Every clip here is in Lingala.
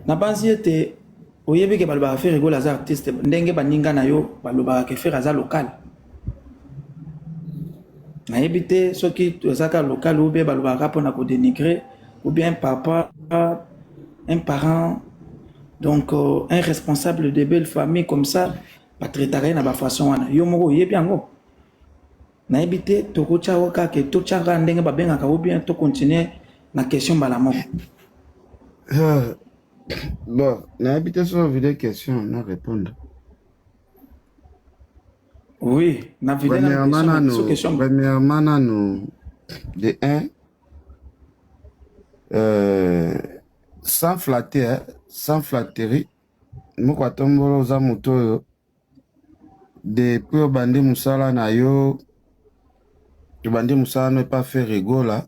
nabanzi ete oyebi ke balobaka Ferre Gola aza artiste ndenge baninga na yo balobaka ke Ferre aza local nayebi te soki tozaka local ou bien balobaka mpo na kodenigre ou bien papa un parent donc euh, un responsable de belle famille comme ça batraitaka ye na bafaçon wana yo moko oyebi yango nayebi te tokotya yango kaka ke totya kaka ndenge babengaka o bien to continuer na question mbala moko Ah, bon nayebi te soki ovide question na répondre oui na vide na premièrement question mais so nanu question premièrement nanu de un euh, sans flatter hein, sans flatterie moko atombolo oza moto oyo Depuis obandi musala na yo, obandi musala no epa Ferre Gola,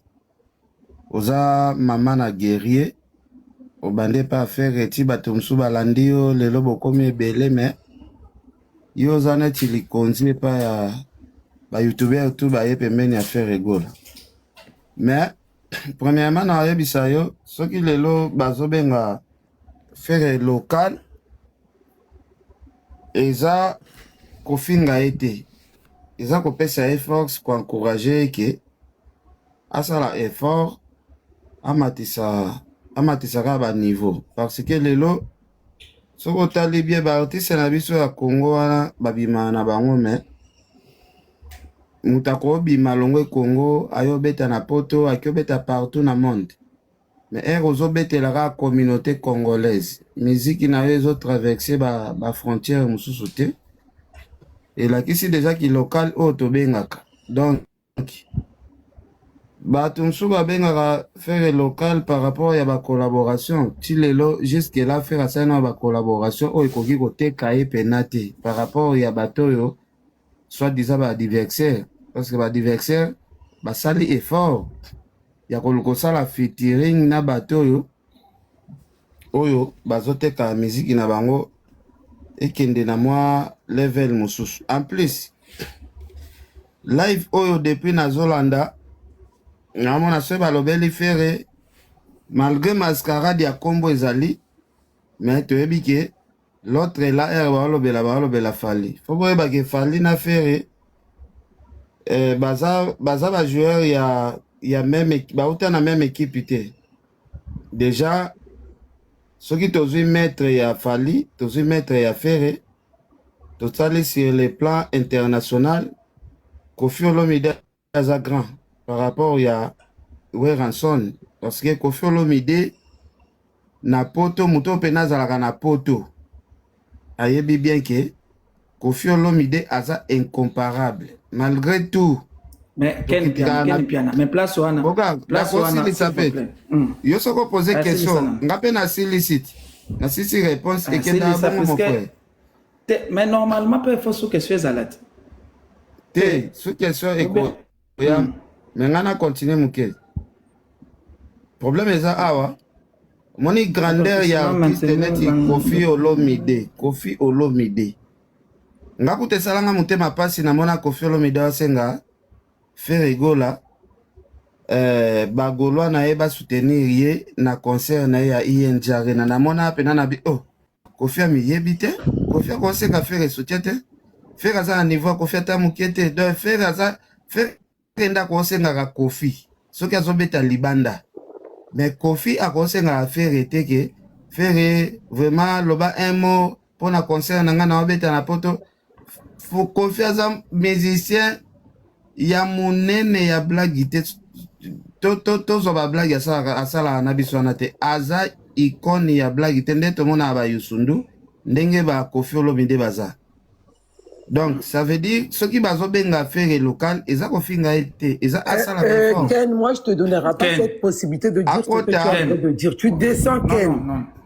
oza mama na guerrier, obandi epa Ferre ti bato mosusu balandi yo, lelo bokomi ebele mais yo oza neti likonzi epa ya ba youtubeurs tout baye pembeni ya Ferre Gola. Mais premièrement na yebisa yo soki lelo bazobenga Ferre local eza kofinga ye te, eza kopesa ye force koencourage ye ke asala effort amatisa amatisaka ba niveau parce que lelo soki otali bie baartiste na biso ya Congo wana babimaka na bango me moto akobima longwe Congo ayobeta na poto akiobeta partout na monde Mais heure ozo betela ka communauté congolaise, musique na yo ezo traverser ba, ba frontières mususu te. Elakisi deja ki local oyo tobengaka. Donc, bato mosusu babengaka fere local par rapport ya bacollaboration ti lelo jusque la fere asali na bacollaboration oyo ekoki koteka ye pena te par rapport ya bato oyo soit disant baadversaire parce que baadversaire basali effort ya kosala featuring na bato oyo oyo bazoteka miziki na bango ekende na mwa level mosusu en plus live oyo depuis nazolanda namona soki balobeli fere malgre mascarade ya nkombo ezali me toyebi ke L'autre là heure balobela balobela Fally. Faut boyeba ke Fally na Ferre eh, baza baza ba joueurs ya ya meme bauta na meme équipe te. Déjà soki tozwi maître ya Fally, tozwi maître ya Ferre, totali sur le plan international Kofi Olomide aza grand par rapport ya Werrason parce que Koffi Olomide na poto moto oyo mpena azalaka na poto ayebi bien ke Koffi Olomide aza incomparable malgré tout mais ken piana ken piana mais place wana boka place wana ça fait hmm. yo soko poser question nga pe na silicite na sisi réponse ah, et que na bon mon frère te mais normalement pe faut sous question ezala te te sous question eko ya hmm. mais ngai na continue moke problème eza awa moni grandeur ya artiste neti kofi olomide kofi olomide nga kuta esalanga motema mpasi namona kofi olomide asenga ferigola eh, bagolwa na ye basoutenir ye na concert na ye ya injarena namona mpena na bi oh kofi amiyebi te kofi akoseka fere esoutien te fere aza na niveau ya kofi ata moke te donc fere aza fere nde akosengaka kofi soki azobeta libanda mais kofi akosengaka fere te ke fere vraiment loba un mot mpo na concert na ngai na wabeta na poto Koffi aza musicien ya monene ya blagi te tozwa bablagi asalaka na biso wana te aza ikone ya blagi te nde tomonaka bayusundu ndenge bakofi olomide baza donc ça veut dire soki bazobenga fere local eza kofinga ye te eza eh, asala eh, ken moi je te donnerai pas cette possibilité de dire ce que tu as de dire tu descends ken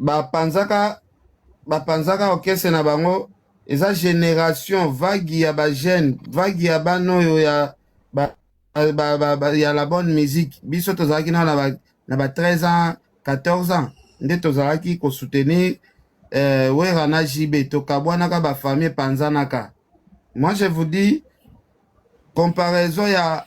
bapanzaka bapanzaka orchestre na bango eza generation vague ya ba jeune vague ya bana oyo ya ba, ba, ba, ba, ya la bonne musique biso tozalaki nao na ba, na ba 13 ans 14 ans nde tozalaki kosoutenir eh, wera na jb tokabwanaka bafamille epanzanaka moi je vous dis comparaison ya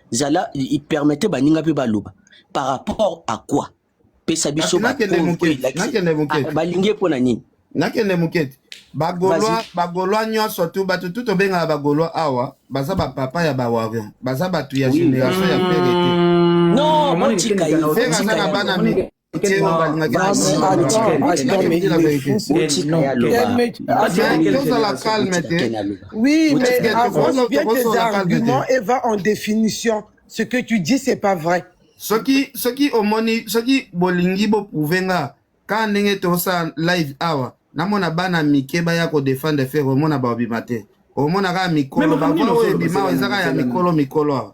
zala permete baninga mpe baloba par rapport à quoi pesa biso ah, balingi ye mpo na nini nakende moke te bagolwa nyonso tu bato tu tobengaka bagolwa awa baza bapapa ya bawarion baza bato ya génération ya pere te non botika ye tozala calme te oui mais avance bien tes arguments et va en définition ce que tu dis c'est pas vrai soki soki omoni soki bolingi boprouve nga kaka ndenge tosala live awa namona bana mike baya kodefendre fere omona babima te omona kaka mikolo baoyo ebima ezaka ya mikolo mikolo awa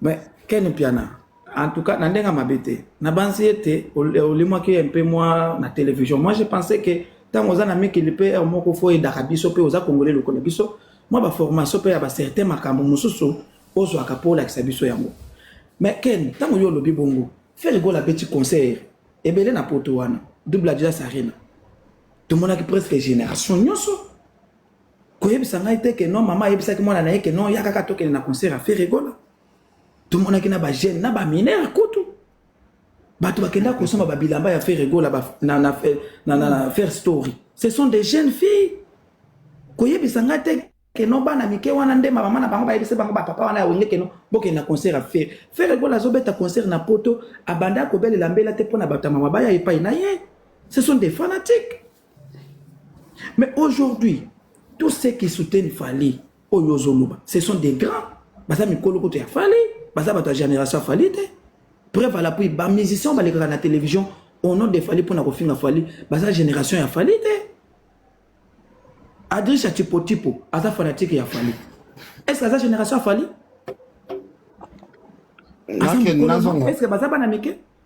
Mais Ken Mpiana, en tout cas, na ndenge ya mabe te. Nabanzi ete olimwaki ye mpe mwa na television. Moi, je pensais que ntango oza na mikili mpe heure moko fo oyedaka biso mpe oza kongole lokola biso, mwa baformation mpe ya bacertain makambo mosusu ozwaka mpo olakisa biso yango. Mais Ken, ntango yo olobi bongo, Ferre Gola abeti concert ebele na poto wana, Double Adidas Arena. Tomonaki presque generation nyonso koyebisa ngai te ke non mama ayebisaki mwana na ye ke non ya kaka tokende na concert ya ferre gola tomonaki na bajeune na baminere kutu bato bakenda kosomba babilamba ya ferre gola na, na, na, na, na fair story ce sont des jeunes filles koyebisa ngai te ke non bana mike wana nde mama na bango bayebisa bango bapapa wana ya wenge ke non bokende na concert ya ferre ferre gola azobeta concert na poto abanda kobelela mbela te mpo na bato ya mama baya epai na ye ce sont des fanatiques Mais aujourd'hui, tous ceux qui soutiennent Fali, Oyo Zoluba, ce sont des grands. Baza mikolo koto ya Fali, baza bato ya génération Fali te. Preuve à l'appui, ba musiciens balekaka na télévision au nom de Fali pona kofinga Fali, baza génération ya Fali te. Adricha Tipo Tipo, aza fanatique ya Fali. Est-ce que aza génération ya Fali? Est-ce que baza bana mike?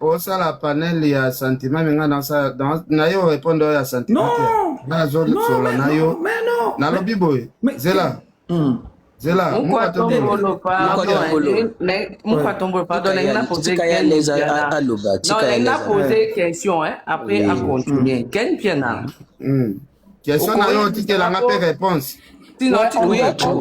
osala panel ya sentiment me nga na yo repondre oyo ya sentiment te nga nazosola na yo nalobi boye zela hmm. zela mukwatombolopardonnapoze question après acontinue ken piana Question na yo otikela nga pe réponse. Sinon, tu oui,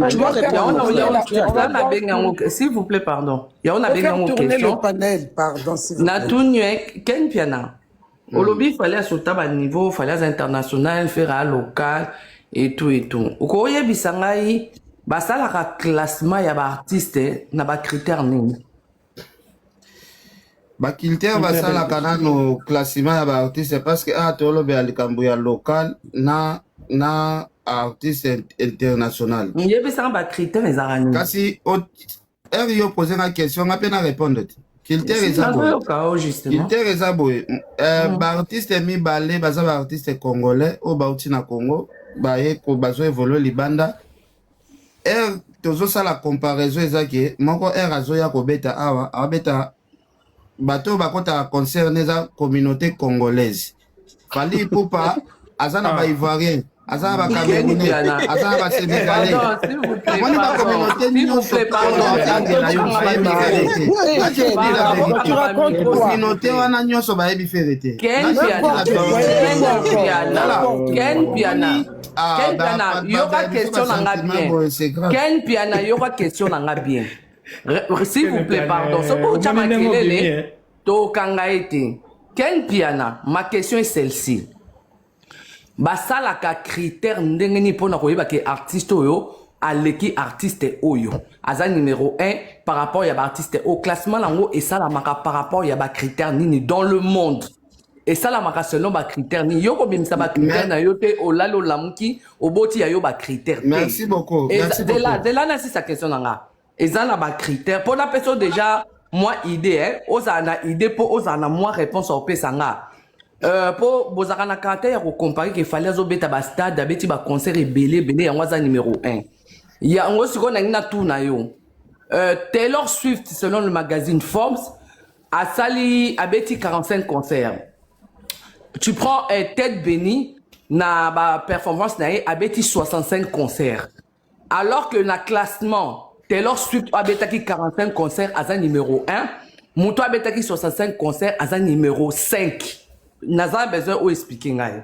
tu vois que ya ona ya ona ya ona na benga ngo s'il vous plaît pardon. Ya ona benga ngo question. le panel pardon s'il vous plaît. Na tunye Ken Piana. Mm. Olobi fallait asota ba niveau, fallait international, faire un local et tout et tout. Okoyebisa ngai basalaka classement ya ba artistes na ba critères nini? bakiltere basalaka nano classima ya baartiste parce que awa tolobela likambo ya local na na artiste international yebisanga bacritère ezaka nini kasi heure yo pose nga question nga mpe na répondre te kiltere eza boye kiltere eza boye baartiste mibale baza baartiste congolais oyo bauti na congo baye bazo evolue libanda heure tozosala comparaison eza ke moko heure azoya kobeta awa abeta bato bakotaka concert eza communauté congolaise fali ipupa aza na ah. baivoirien aza na bacamerounais aza na basenegalais omoni bacommunauté nyonso communauté wana nyonso bayebi fere te Ah, Ken bah, Piana, bah, bah, yoka bah, question bah, na nga sentiment, bien. boy, c'est grave. Ken Piana, yoka question na nga bien. Re- re- S'il vous plaît, pardon. Soki otya Omoni ndenge obimi, makelele, eh? tokanga ye te. Ken Piana, ma question est celle-ci. basalaka critère ndenge nini mpo na koyeba ke artiste oyo aleki artiste oyo aza numero 1 par rapport ya baartiste oyo classement na yango esalamaka par rapport ya bacritère nini dans le monde esalamaka selon bacritère nini yo kobimisa bacritère na yo te olali olamuki oboti ya yo bacritère tezela nasisa question na nga eza na bacritère mpo napesa yo déjà mwa idée eh? ozala na idée mpo ozala na mwa réponse ya kopesa nga mpo euh, bozalaka na caractère ya kocompare ke fali azobeta bastade abeti baconcert ebele ebele yango aza numéro 1 yango sikoyo nangi natuna yo euh, taylor swift selon le magazine forbes asali abeti 45 concert tu prends eh, tête bénie na ba performance na ye abeti 65 concert alors que na classement taylor swift oyo abetaki 45 concert aza numéro 1 moto oyo abetaki 65 concert aza numéro 5 naza besoin oyo explike ngai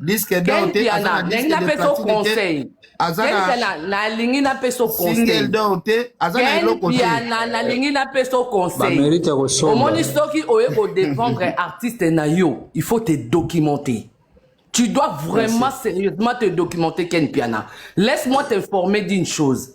disque d'or te aza na disque de platine te aza na nalingi napesa o conseil single d'or te aza na eloko te piana nalingi napesa o conseil mérite ya kosomba omoni soki oye ko défendre artiste na yo il faut te documenter tu dois vraiment Merci. sérieusement te documenter Ken Piana laisse-moi t'informer d'une chose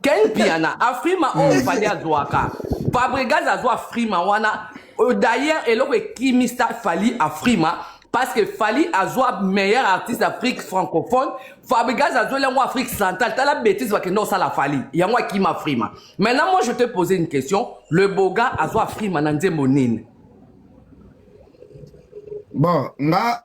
Ken Mpiana afrima oyo hmm. fali azwaka Fabregas azwa afrima wana euh, d'ailleurs eloko ekimisa fali afrima parce que Fali azwa meilleur artiste Afrique francophone Fabregas azweli yango Afrique centrale tala bêtise bakende kosala Fali yango akima Frima maintenant moi je te poser une question le boga azwa Frima na nzembo nini bon nga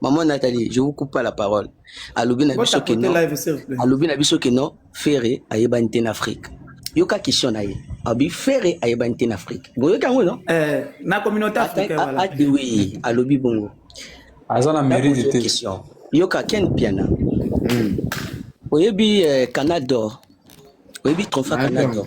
maman Nathalie je vous coupe pas la parole alobi na biso que non alobi na biso que non Ferre ayebani te na Afrique yoka question na ye abi Ferre ayebani te na Afrique boyoki yango non eh na communauté africaine voilà ah, ah, oui alobi bongo aza na mérite te question yoka Ken Piana hmm. oyebi euh, Canada d'or oyebi trophée Canada d'or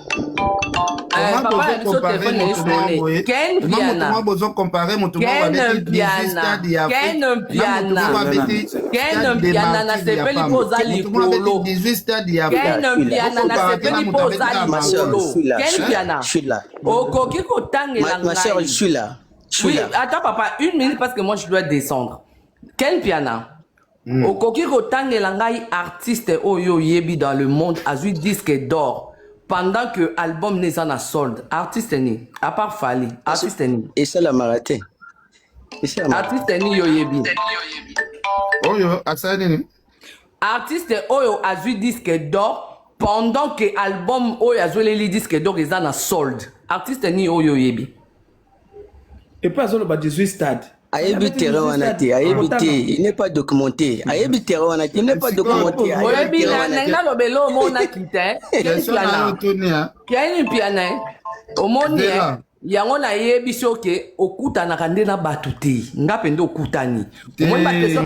okoki kotangela ngai ata papa une minute parce que moi je dois descendre ken piana Mm. okoki kotangela ngai artiste oyo oyebi dans le monde azwi disque d'or pendant que album ne eza na solde artiste nini à part fali artiste nini esalamaka te Esalamaka. artiste nini yo oyebi oyo asala nini artiste oyo azwi disque d'or pendant que album oyo azweleli disque d'or eza na solde artiste nini oyo oyebi Et pas azoloba 18 stades. Ayebi terrain wana te, ayebi te, il n'est pas documenté. Ayebi terrain wana te, il n'est pas documenté. Ayebi terrain wana te. Na lobelo omona kita. Kiani piana. Omoni yango nayebisi oke okutanaka nde na bato te nga mpe nde okutani omoni bakestion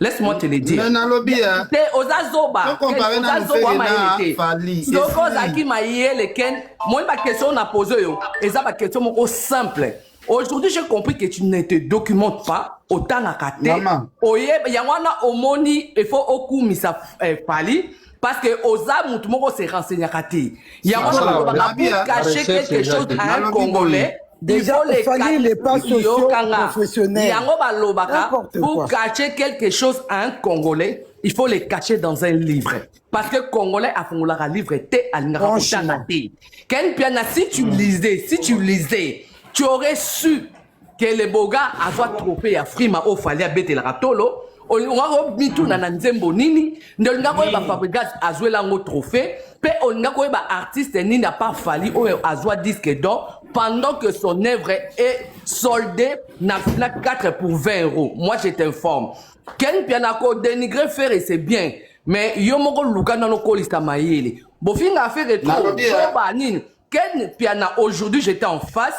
laisse-moi te le dire te oza zoba oza zoba wa mayele te soki ozalaki mayele ken moi bakestion oyo na pose oyo eza bakestion moko simple aujourd'hui j'ai compris que tu ne te documentes pas otangaka te oye yango wana omoni efo okumisa eh, fali parce que oza mutu moko se renseignaka te yango Sala, nakolobaka Rabia, pour cacher recherche quelque chose exacte. à un Nalobi boye. congolais Déjà, il faut fallait les pas sociaux yokanga professionnels. yango balobaka N'importe pour quoi. cacher quelque chose à un congolais il faut le cacher dans un livre parce que congolais afungolaka livre te alingaka Franchement. kotanga te ken piana si tu lisais si tu lisais tu aurais su keleboga azwa trope ya frima oyo fali abetelaka tolo olingaki omituna na nzembo nini nde olingaki oyeba fabrigas azwela yango trophée mpe olingaki oyeba artiste nini apart fali oyo azwa disque d'or pendant que son œuvre est soldée na fina 4 pour 20 euros moi je t'informe ken mpiana ko dénigrer fere c'est bien mais yo moko luka nano kolisa mayele bofinga fere trop zoba nini ken mpiana aujourd'hui j'étais en face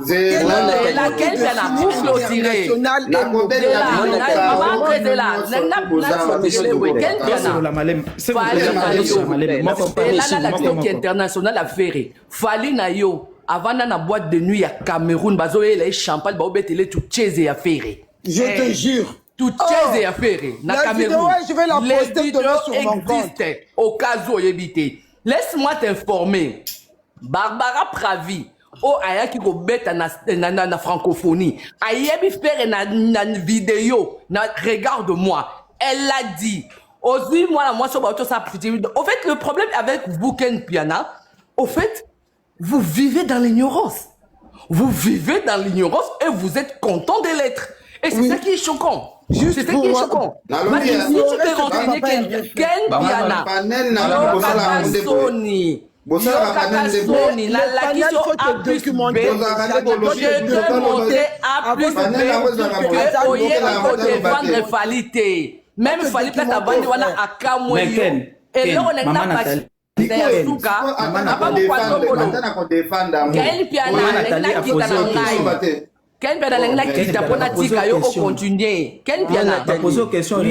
laquelle mpe na boucle otire international ya ferre fali na yo avanda na boîte de nuit ya cameroun bazoyela ye champagne baobetele tucheze ya ferre je te eh. jure tucheze oh. ya ferre na cameroun les vidéos existent au cas où oyebi te laisse moi t'informer barbara pravi oyo oh, ayaki kobeta na, na, na, na francophonie ayebi fere na, na video na regarde moi elle l'a dit ozwi mwana mwasi oyo baotosa aptitude au fait le problème avec vous ken piana au fait vous vivez dans l'ignorance vous vivez dans l'ignorance et vous êtes content de l'être et c'est oui. ça qui est choquant Juste c'est pour moi. Maki, si tu peux renseigner Ken, Ken Piana, Sony, bosalaka nde nde boni nalakisi yo a plus b documenté a plus b que oyebi kodefendre fali te meme fali mpe kabandi wana akamwe yo eloko na ngai napasi ya suka abamokwatokolo gael mpiana nakita na ngai ken mpiana alingi nakita mpo natika yo ocontinue ken mpiana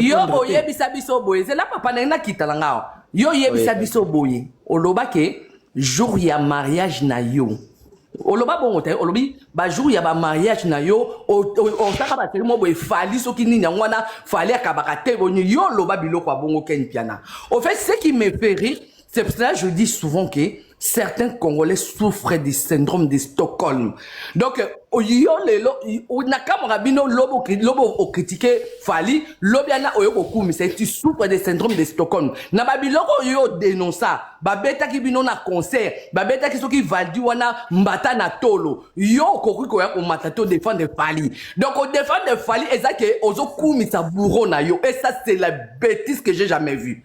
yo oyebisa biso boye zela papa ndenge nakita na ngao yo oyebisa biso boye oloba ke jour ya mariage na yo oloba bongo te olobi bajour ya bamariage na yo osaka baseli mo boye fali soki nini yango wana fali akabaka te boni yo oloba biloko ya bongo ken mpiana au fait ce qui me fait rire C'est pour cela que je dis souvent que certains Congolais souffrent du syndrome de Stockholm. Donc, oh, yo lelo, oh, nakamora bino lobo, lobo au critiquer Fali, lobiana oyo kokumi, c'est tu souffres de syndrome de Stockholm. Na babiloko yo dénonça, babeta ki bino na concert, babeta ki soki valdi wana mbata na tolo. Yo kokoki koya ko mata to défendre Fali. Donc, au défendre Fali, ezake ozo kumisa bourreau na yo. Et ça, c'est la bêtise que j'ai jamais vue.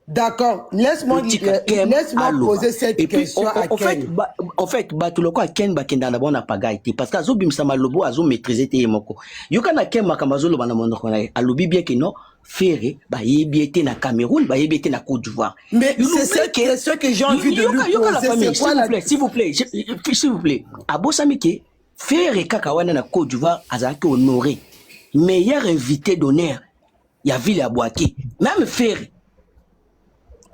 D'accord, laisse-moi euh, laisse-moi poser cette Et question puis, au, au, fait, ba, au fait, bato lokola Ken bakenda na bona pagai te parce que azo bimisa malobo azo maîtriser te yemoko. Yoka na Ken makambo azo loba na monoko na ye. Alobi bien que non, Ferre bayebi ye te na Cameroun, bayebi ye te na Côte d'Ivoire. Mais c'est ce que, ce que j'ai envie de yoka, lui yoka poser, la famille, s'il vous plaît, s'il vous plaît, s'il vous plaît. Abosami ke Ferre kaka wana na Côte d'Ivoire azalaki honoré. Meilleur invité d'honneur ya ville ya Boaké même Ferre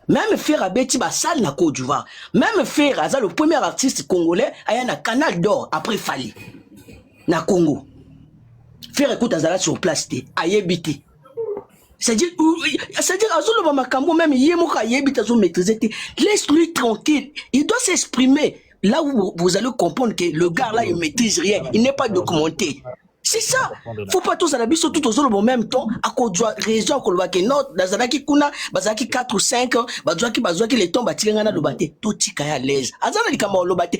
même Ferre abeti ba salle na Côte d'Ivoire même Ferre aza le premier artiste congolais aya na Canal d'Or après Fally na Congo Ferre écoute azala sur place te ayebi te c'est-à-dire c'est-à-dire azoloba makambo même ye moko ayebi te azo maîtriser te laisse lui tranquille il doit s'exprimer là où vous allez comprendre que le gars là il maîtrise rien il n'est pas documenté c'est ça faut pas tozala biso tout tozoloba en même temps akozwa raison akoloba ke no nazalaki kuna bazalaki 4 ou 5 bazwaki bazwaki le temps batika ngai naloba te totika ya l'aise aza na likambo aloba te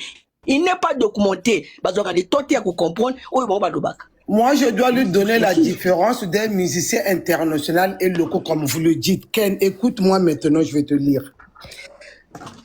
il n'est pas documenté bazwaka le temps te ya kocomprendre oyo bango balobaka Moi, je dois lui donner la différence d'un musicien international et local, comme vous le dites. Ken, écoute-moi maintenant, je vais te lire.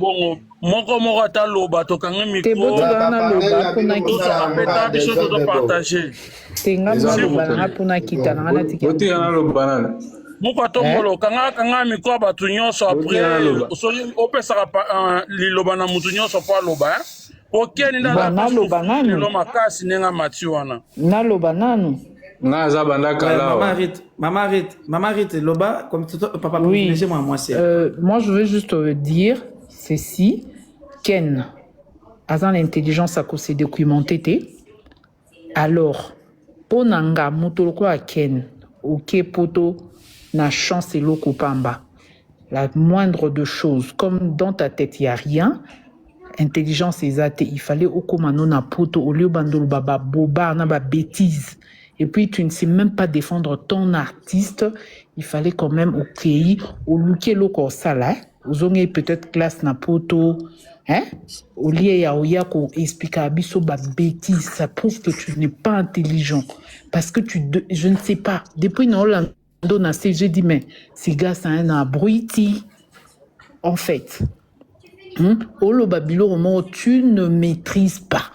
bongo moko moko ata loba tokangi mikroapeta biso tozopartage moko atongolo eh? kanga kanga mikro ya bato nyonso apres soki opesaka euh, liloba na moto nyonso mpo aloba eh? Okeni nde aza naloba nanu lelo makasi ndenge amati wana. Naloba nanu. Nga aza banda kala. Maman Rite, maman Rite, maman Rite, loba comme tout papa oui. privilégié moi moi c'est. Euh, moi je veux juste euh, dire ceci Ken aza na intelligence à se documenter te. Alors pona nga moto lokola Ken oke poto na chance eloko pamba la moindre de chose comme dans ta tete ya rien intelligence eza te il fallait okoma no na poto au lieu bando loba ba bobar na ba betises et puis tu ne sais même pas defendre ton artiste il fallait quand même okeyi oluki eloko osala eh? ozongei peut-être classe na poto hein? au lieu ya oya koexplikaka biso babétise ça prouve que tu n'es pas intelligent parce que tu de, je ne sais pas depuis na olanda ndo na se je dis mais siga c'est un abruti en fait hmm? oloba biloko moko tu ne maîtrise pas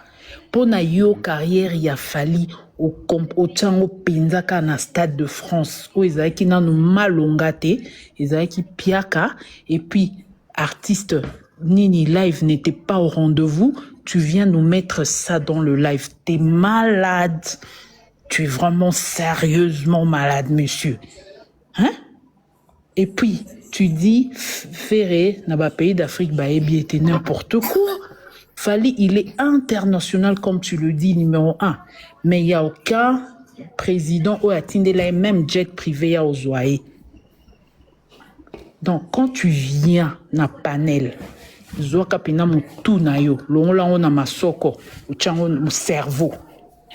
Pona yo carrière ya Fally otia yango penza kaka na stade de France oyo ezalaki nanu malonga te, ezalaki piaka et puis artiste nini live n'était pas au rendez-vous, tu viens nous mettre ça dans le live, t'es malade, tu es vraiment sérieusement malade monsieur. Hein? Et puis, tu dis Ferre na ba pays d'Afrique bayebi ye te, n'importe quoi. Fally, il est international comme tu le dis, numéro un. Mais il y a aucun président oyo atindela ye même jet privé ya ozwa ye. Donc, quand tu viens na panel, zwaka mpena motu na yo, longola yango na masoko, otya yango cerveau.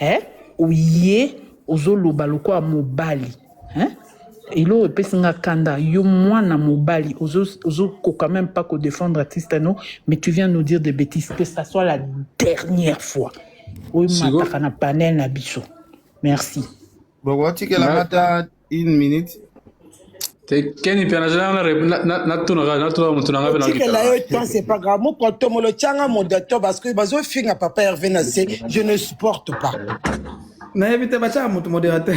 eh, oye ozoloba lokola mobali eh? eloko epesi nga kanda yo mwana mobali ozokoka meme pas kodefendre artiste no mais tu viens nous dire des bêtises que ça soit la dernière fois oyo mataka na panel na biso merci bokotikela ata une minute keni mpe natunaka natunaka motu nanga mpenatikela yo temps c'est pas grave mokotomo lotyanga modato parce que bazofinga papa herve na se je ne supporte pas nayebi te batyaka motu modérateur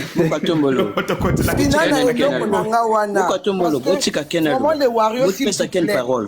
botika ken parole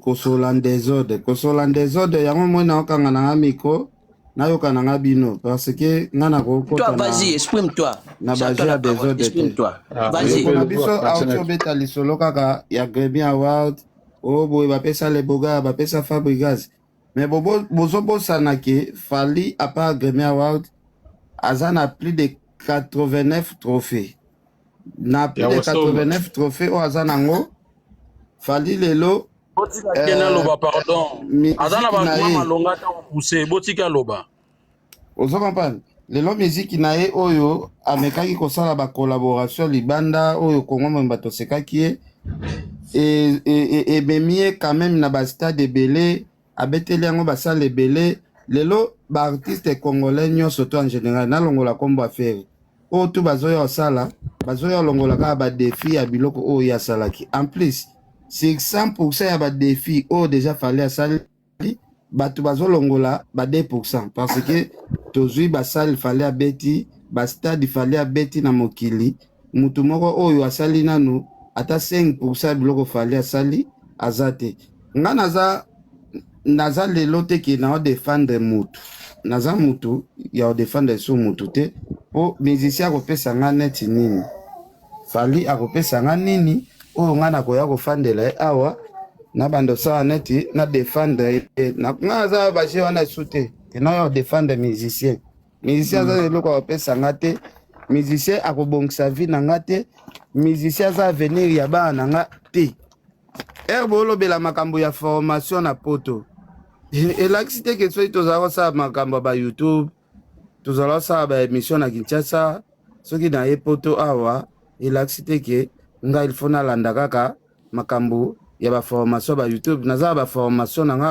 kosola desordre kosola desordre yango moi naokanga na nga micro nayoka na nga bino parce que nga nakokota vas-y exprime toi na baje ya desordre te ah, ndeko na biso auti obeta lisolo kaka ya gremi award o oh, boye bapesa leboga bapesa fabrigas mais bozobosana ke fali apart gremi award aza na plus de 89 trophée na plus de 89 trophée oyo aza nango fali lelo botika eh, kena loba pardon aza na bakuma malonga ata kopuse botika loba ozo comprendre lelo miziki na ye oyo amekaki kosala bacollaboration libanda oyo kongo momba tosekaki ye ememi e, e, e ye quand même na bastade ebele abeteli yango basali ebele lelo ba artiste congolais nyonso to en general nalongola nkombo ya feri oyo tu bazoya osala bazoya olongola kaka badefi ya biloko oyo ye asalaki en plus sur 100 pourcent ya badefi oyo deja fali asali bato bazolongola ba 2 pourcent parce que tozwi basale fali abeti bastade fali abeti na mokili Mutu moko oyo asali nanu ata 5 pourcent ya biloko Fally asali aza te. Nga naza naza lelo te ke nao defendre mutu, naza mutu ya ko defendre lisusu mutu te, po musicien akopesa nga neti nini? Fally akopesa nga nini oyo nga nakoya kofandela ye awa nabanda osala neti na defendre ye? Nga naza ba jeux wana lisusu te ke nao defendre musicien. musicien aza na eloko akopesa nga te musicien akobongisa vie na nga te musicien aza avenir ya bana na nga te ere boolobela makambo ya formation na poto elakisi te ke soki tozala kosala makambo ya bayoutube tozala kosala baémission na kinshasa soki naye poto awa elakisi te ke ngai ilfo nalanda kaka makambo ya baformation ba youtube naza na baformation na nga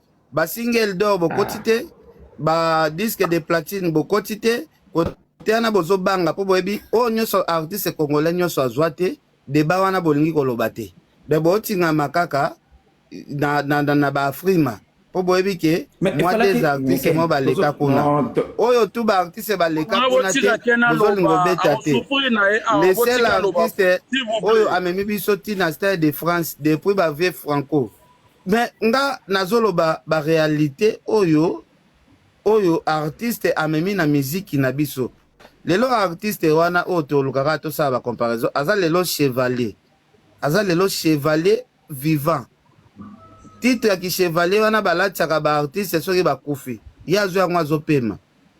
ba single d'or bokoti ah. te ba disque de platine bokoti te kote wana bozobanga mpo boyebi oyo nyonso artiste congolais nyonso azwa te deba wana bolingi koloba te me botingama kaka na, na, na, na baafrima mpo boyebi ke mwa des artiste mo baleka kuna oyo tu baartiste baleka kuna te bozolinga obeta te le seul artiste oyo amemi biso ti na stade de france depuis bavie franco Mais nga nazoloba ba realite oyo oyo artiste amemi na miziki na biso lelo. Artiste wana oyo tolukaka tosala ba comparaison, aza lelo chevalier, aza lelo chevalier vivant. Titre ya ki chevalier wana balatisaka ba artiste soki bakufi, ye azwi yango azopema.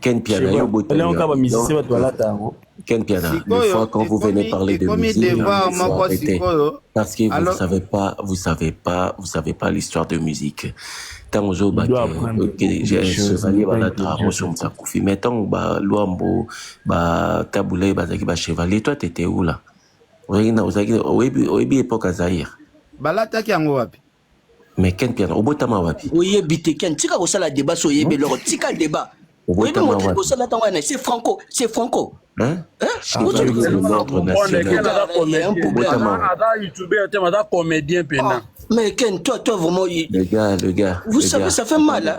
Ken Piana, yo boy Léon Kaba musicien bato balata yango. Ken Piana, une fois quand vous venez parler de musique, il faut arrêter. Parce que vous ne savez pas, vous savez pas, vous savez pas l'histoire de musique. ntango ozoba ke chevalier balata mosomisa akufi mais ntango balwambo batabulai bazalaki bachevalier toi tete ula oyebi epoque ya zaire balataki yango wapi Mais Ken Mpiana, obotama wapi? Oyebi te Ken, tika kosala débat so oyebi eloko, tika débat. Oyebi moto kosala tango wana, c'est Franco, c'est Franco. Hein? Hein? Ozo lokola l'ordre national. Obotama. Aza youtubeur te, aza comédien pena. Mais Ken, toi, toi vraiment. Le gars, le gars. Vous savez, ça fait mal. Hein?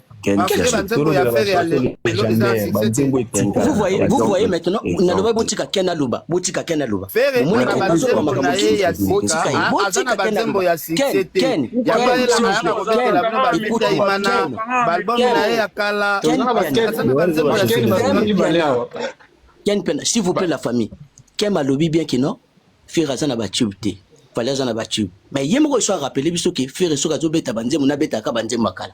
Vous voyez, vous voyez maintenant, naloba botika Ken aloba, botika Ken aloba. Omoni Ken azoloba makambo mosusu, botika ye, botika Ken aloba. Ken, Ken, Ken, Ken, s'il vous plaît la famille, Ken alobi bien que non, Ferre aza na ba tube te. fale aza na batube mais ye moko esu arapele biso ke fere soki azobeta banzembo nabetaka banzembo ya kala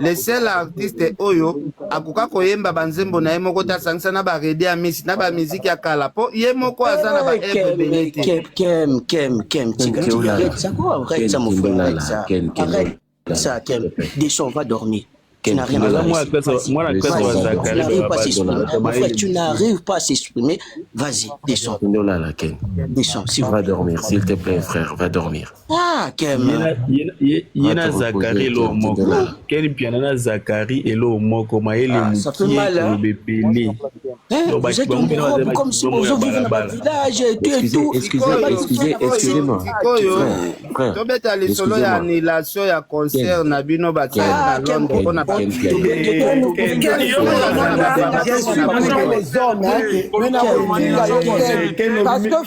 le seul artiste oyo akoka koyemba banzembo na ye moko te asangisa na baredi ya misi na bamiziki ya kala mpo ye moko aza na baebele te ça Ken descends va dormir tu n'as rien à faire tu n'arrives pas à s'exprimer vas-y descends descends si va dormir s'il te plaît frère va dormir Ah, ye na zakari eloo moko keni mpiana na zakari eloo moko mayele ah, mokie koloba ebele tobeta lisolo ya annulation ya concert na bino bakei na londre mpona Parce que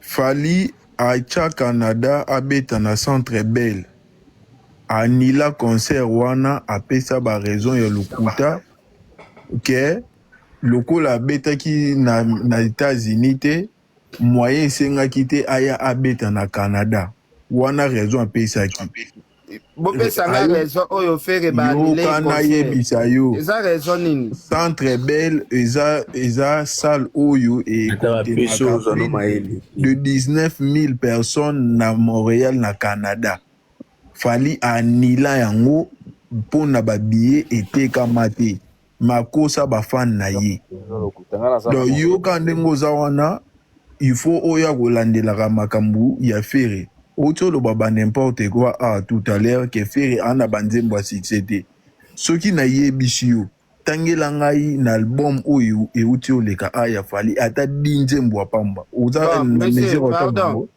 Fally acha Canada abeta na centre bell a annula concert wana apesa ba raison ya lokuta que lokola abetaki na etats unis te moyen esengaki te aya abeta na Canada wana raison apesaki. bopesa nga raison oyo fere yoka nayebisa yo eza raison nini centre belle eza eza salle oyo ekotemaka de 19000 personnes na montréal na canada fali anila yango mpo na babillet etekama te makosa ba fan na ye donc yo ka ndenge oza wana il faut oya kolandelaka makambu ya ferre oti oloba ba n'importe quoi awa tout à l'heure que ferre a na ba nzembo ya succès te soki na yebisi yo tangela ngai na album oyo ewuti oleka a ya fally ata 10 nzembo ya pamba oza na mesure ya kotanga yango?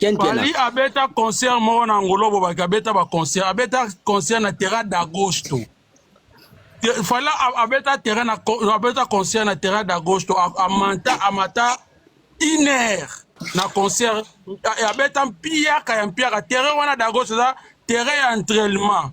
Fally abeta concert moko na Angolo Bobaki abeta ba concert abeta concert na Terra d'Agosto Fally abeta terrain na abeta concert na Terra d'Agosto amanta amata une heure na concert abeta mpiaka ya mpiaka terrain wana d'Agosto eza terrain ya entraînement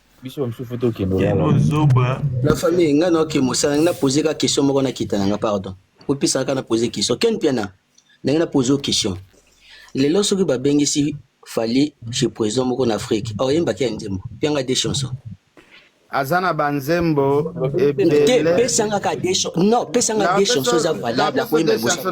biso bamosusu fo tokende olala na famille ngai naoke mosala ngai napose kaka question moko nakita na ngai pardon opesaka kaka napose question ken piana ndenge napose o question lelo soki babengisi fali chez président moko na afrique aoyembaki ya nzembo pianga de chanson aza na banzembo ebele pesanga ka de chanson non pesanga de chanson eza valable akoyemba liboso